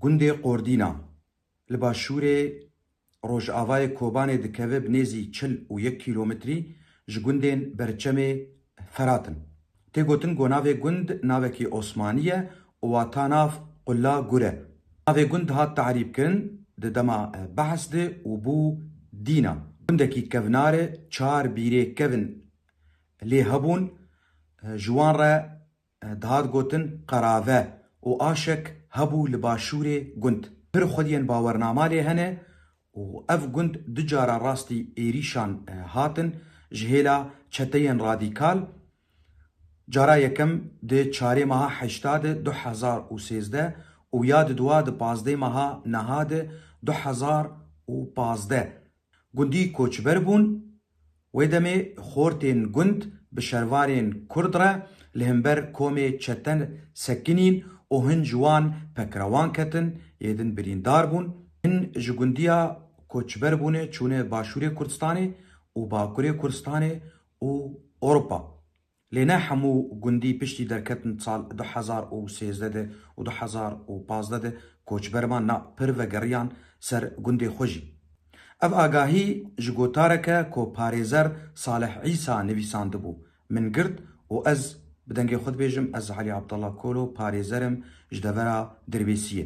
Gundê Qordîna, li başûrê rojavayê Kobanê dikeve bi nêzî çil û yek kîlometrî ji gundên Berçemê Ferat in. Tê gotin ku navê gund navekî Osmanî ye û wata nav Qula Gur e. Navê gund hat tarîbkirin di dema behs de û bû Dîna. Gundekî kevnar e, çar bîrê kevn lê hebûn, ji wan re Dihat gotin qerave û aşek hebû li başûrê gund. Pir xwediyên bawernama lê hene û ev gund du cara rastî êrîşan hatin ji hêla çeteyên radîkal. Cara yekem di çarê meha heşta di du hezar û sêzdeh û ya di dua di pazdeh meha niha di du hezar û pazdeh Gundî koçber bûn. Wê demê xortên gund bi şervarên kurd re li himber komê çete sekinîn û hin ji wan pekrewan ketin, yê din birîndar bûn. Hin ji gundiya koçber bûne çûne başûrê Kurdistanê û bakurê Kurdistanê û Ewropa. Lê ne hemû gundî piştî derketin sal du hezar û sêzdeh de û du hezar û pazdeh de koçber man na pir vegeriyan ser gundê xwe jî. Ev agahî ji gotarek e ku parêzer Salih Îsa nivîsandibû, min girt û ez bi dengê xwe dibêjim ez Elî Abdallah Kolo parêzer im ji devera Dirbêsiyê.